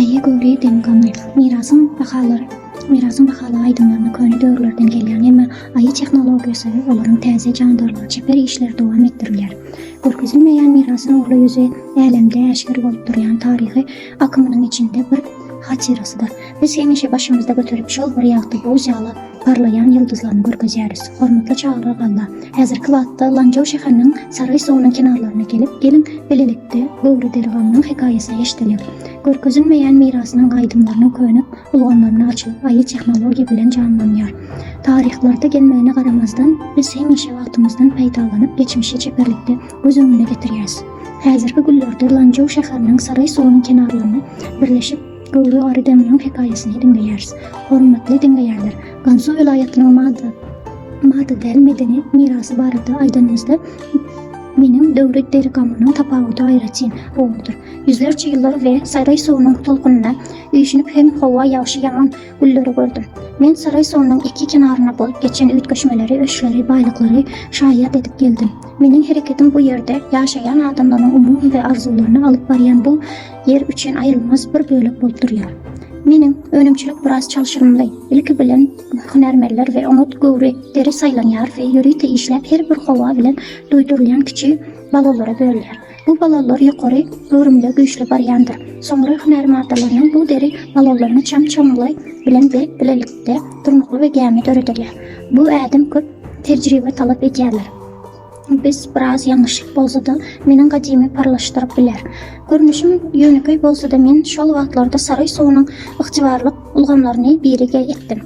Aýy göwri dem gamly. Mirasyň bahalary. Mirasyň bahaly aýdymlaryna köne döwürlerden gelýän, emma Aýy tehnologiýasy, olaryň täze jandarlygy, çeper işleri dowam etdirilýär. Görkezilmeýän mirasyň uly ýüzi älemde äşgär bolup durýan taryhy akymynyň içinde bir hatyrasydyr. Biz hemişe başymyzda göterip, şol bir ýagty buz ýaly, parlaýan ýyldyzlaryny görkezýäris. Hormatly çagyryr Alla! Häzirki wagtda Lanjaw şäheriniň Saraý suwunyň kenarlaryna gelip, geliň, bilelikde Göwre Derganynyň hekaýasyny eşidelim. Görkezilmeýän mirasynyň gaýdymlarynyň köne ulgamlaryny açyp, aýy tehnologiýa bilen janlanýar. Taryhlarda gelmegine garamazdan, biz hemişe wagtymyzdan peýdalanyp, geçmişi çeperlikde göz öňüne getirýäris. Häzirki günlerde Lanjaw şäheriniň Saraý suwunyň kenarlaryny birleşip, Göwre Ary Deminiň hekaýasyny diňleýäris. Hormatly diňleýänler, Gansu welaýatynyň mada mada däl medeni mirasy barada aýdanymyzda, meniň döwri derigamynyň tapawudy aýratyn gowudyr. Ýüzlerçe ýyllar we Saýraý suwunyň tolkunynda üýşünip hem howa ýagşy-ýaman, gülleri gördüm. Men Saýraý suwunyň iki kenaryna bolup geçen üýtgeşmeleri, öçleri, baýlyklary şaýat edip geldim. Meniň hereketim bu ýerde ýaşaýan adamlaryň umumy we arzuwlaryny alyp barýan bu Ýer üçin aýrylmaz bir bölek bolup durýar. Meniň önümçilik biraz çalşyrymly. Ilki bilen hünärmenler we oňat göwri deri saýlanýar we ýörite işläp her bir howa bilen duýdurylýan kiçi balonlara bölünýär. Bu balonlar ýokary göwrümde güýçli barýandyr. Soňra hünär maddalarynyň bu deri balonlaryny çam-çamly bilen berk bilelikde durnukly we gämi döredilýär. Bu ädim köp tejribe talap edýärler. Biz biraz ýalňyşlyk bolsa-da, meniň gadymy parlaşdyryp biler. Görnüşim ýönekeý bolsa-da men şol wagtlarda saraý suwunyň ygtybarlyk ulgamlaryny birige etdim.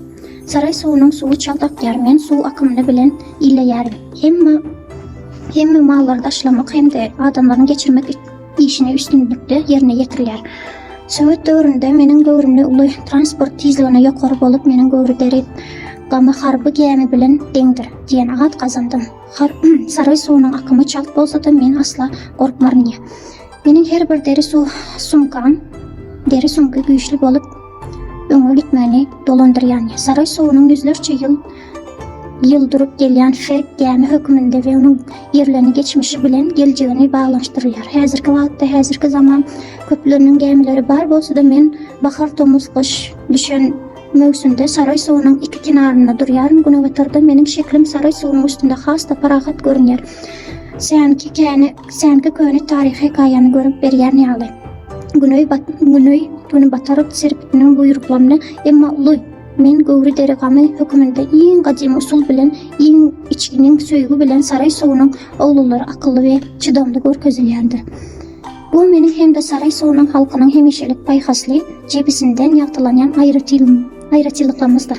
Saraý suwunyň suwy çalt akýar, men suw akymyny bilen illeýärin. Hemme hemme mallary daşlamak hem-de adamlaryň geçirmek işini üstünlikde ýerine ýetirýär. Sowet döwründe meniň göwrümde uly transport tizligine ýokary bolup, meniň göwri derek gama harby gämi bilen deňdir diýen at gazandym. Har saryý suwunyň akymy çalt bolsa-da, men asla gorkmaryn diýär. Meniň her bir deri suw sumkam, deri sumky güýçli bolup, öňe gitmegini dolandyrýan. Saryý suwunyň ýüzlerçe ýyl Ýyl durup gelýän Şerk gämi hökmünde we onuň ýerlerini geçmişi bilen geljegini baglanyşdyrýar. Häzirki wagtda häzirki zaman köpleriniň gämileri bar bolsa-da men bahar tomus gyş düşen möwsümde Saraý suwunyň iki kenarynda durýaryn günebatarda meniň şeklim Saraý suwunyň üstünde has-da parahat görünýär. Sänki käni sänki köne taryhy hekaýany görüp berýän ýaly. Güneý bat güneý güni bataryp serpitiniň buýruklaryny emma uly Men göwri deri gamy höküminde iň gadymy usul bilen iň içginiň söýgi bilen saraý suwunyň ogullary akylly we çydamly görkezilýändir. Bu meniň hem-de saraý suwunyň halkynyň hemişelik paýhasly jebisinden ýagtylanýan aýratynlyklarymyzdyr.